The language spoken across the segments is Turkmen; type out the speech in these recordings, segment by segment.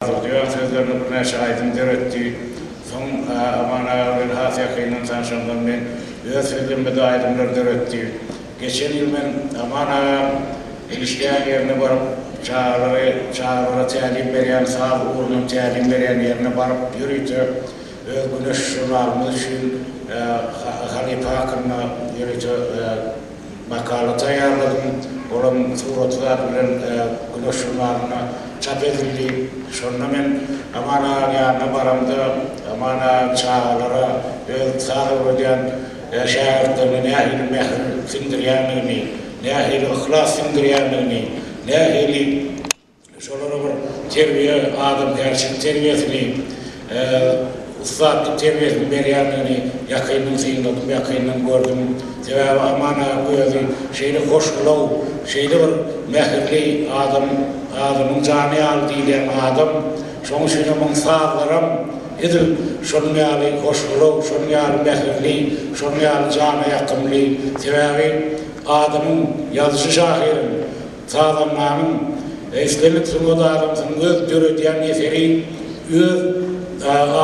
Audioň sözlerini birnäçe aýdym döretdi. Soň Aman aga bilen has ýakyndan tanşanlaryndan öz sözlemede aýdymlar döretdi. Geçen ýyl men Aman agaň işleýän ýerine baryp, çagalary, çagalara tälim berýän saz ugrundan tälim berýän ýerine baryp ýörite öz Güneş žurnalymyz üçin halypa hakynda ýörite Makala taýýarladym. Olam suratlar bilen Güneş žurnalynda çap edildi. Şonda men Aman agaň ýanyna baramda, Aman aga çagalara öz saz öwredýän şägirtlerine nähili mähir siňdirýändigini, nähili yhlas siňdirýändigini, nähili. Şolara bir terbiýe, adamkärçilik terbiýesini, ussatlyk terbiýesini berýändigini ýakyndan synladym, ýakyndan gördüm. Sebäbi Aman agaň özi şeýle hoşgylaw, şeýle bir mähirli adam, adamyň jany ýaly diýilýän adam. Şonuň üçin hem onuň sazlaram edil şonuň ýaly hoşgylaw, şonuň ýaly mähirli, şonuň ýaly jana ýakymly. Sebäbi adamyň, ýazyjy-şahyryň. Sazandanyň, islendik sungat adamsynyň öz döredýän eseri öz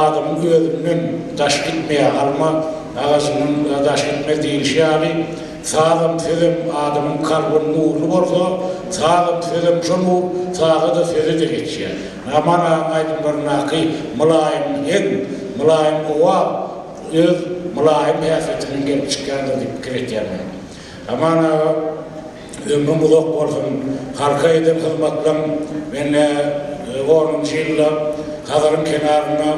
adamyň özünden daş gitmeýär, alma agaçyndan daş gitmez diýlişi ýaly, sazam, sözem adamyň kalbyn nurly bolsa, sazam, sözem şo nur saza-da, söze-de geçýär. Aman agaň aýdymlaryndaky mylaýym heň, mylaýym owaz öz mylaýym häsiýetinden gelip çykýandyr diýip pikir etýän men. Aman aga ömrüň uzak bolsun halka eden hyzmatlaň mende onunjy ýylda Hazaryň kenarynda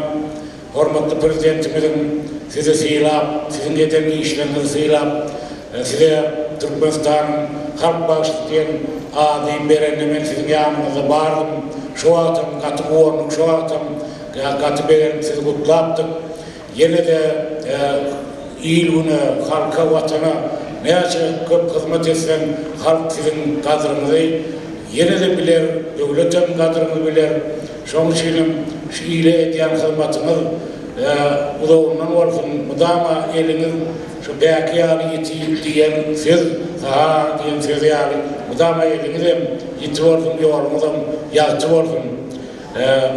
hormatly prezidentimiziň sizi sylap siziň eden işleriňizi sylap size Türkmenistanyň halk bagşysy diýen ady berende men siziň ýanyňyzda bardym şo wagtam gaty guwanduk şo wagtam gaty begenip sizi gutlapdyk Ýene-de il-güne, halka, Watana näçe köp hyzmat etseň, halk siziň gadryňyzy ýene-de biler, döwletem gadryňyzy biler. Şonuň üçinem şu ile edýän hyzmatyňyz uzagyndan bolsun, mydama eliňiz şu bäki ýaly ýiti diýen söz, saha diýen söz ýaly, mydama eliňizem ýiti bolsun, ýoluňyzam ýagty bolsun!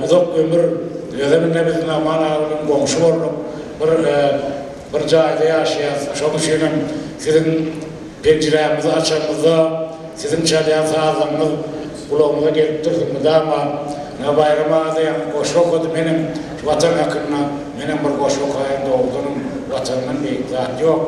Uzak ömür dileseňizde biz Nahman aga bilen goňşy bolduk. Bir bir jaýda ýaşaýas. Şonuň üçin hem siziň penjirämizi açanymyzda siziň çalýan sazlaryňyz gulagymyza gelip dursun mydama. Ine Baýram aga diýen goşgy okady menem Watan hakynda. Menem bir goşgy okaýyn dogrudanam Watandan beýik zat ýok.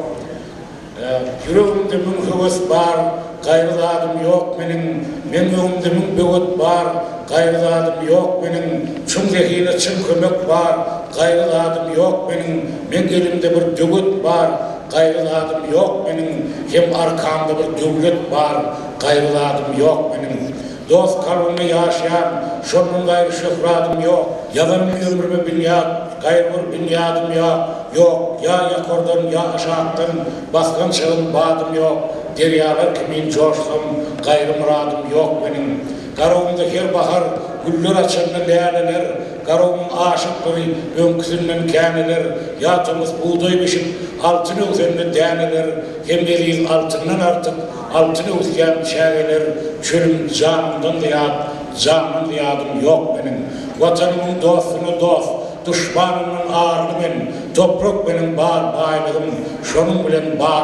Ýüregimde müň höwes bar, gaýry zadym ýok meniň, Meň öňümde müň böwet bar, gaýry zadym ýok meniň, Çuň zehine çyn kömek bar, gaýry zadym ýok meniň, Meň elimde bir döwet bar, gaýry zadym ýok meniň, Hem arkamda bir döwlet bar, gaýry zadym ýok meniň. Dost kalbymda ýaşaýaň, şondan gaýry şöhradym ýok, Ýazan bir ömrüme binýat, gaýry bir binýadym ýa, ýok, Ýa ýokardan, ýa aşakdan, basgan çygym, badym ýok, Derýalar kimin joşsam, gaýry myradym ýok meniň. Garabymda her bahar güller açanda läleler, Garabymyň aşykdyr öňküsinden käneler, Ýa tomus bugdaý bişip, altyn öwsende däneler, Hem eziz altyndan artyk, Altyn öwüsýän çägeler çölüm Janymdan zyýat, jandan zyýadym ýok meniň. Watanymyň dostuna dost, duşmanymdan arly men, Toprak meniň bar baýlygym, şonuň bilen bagly.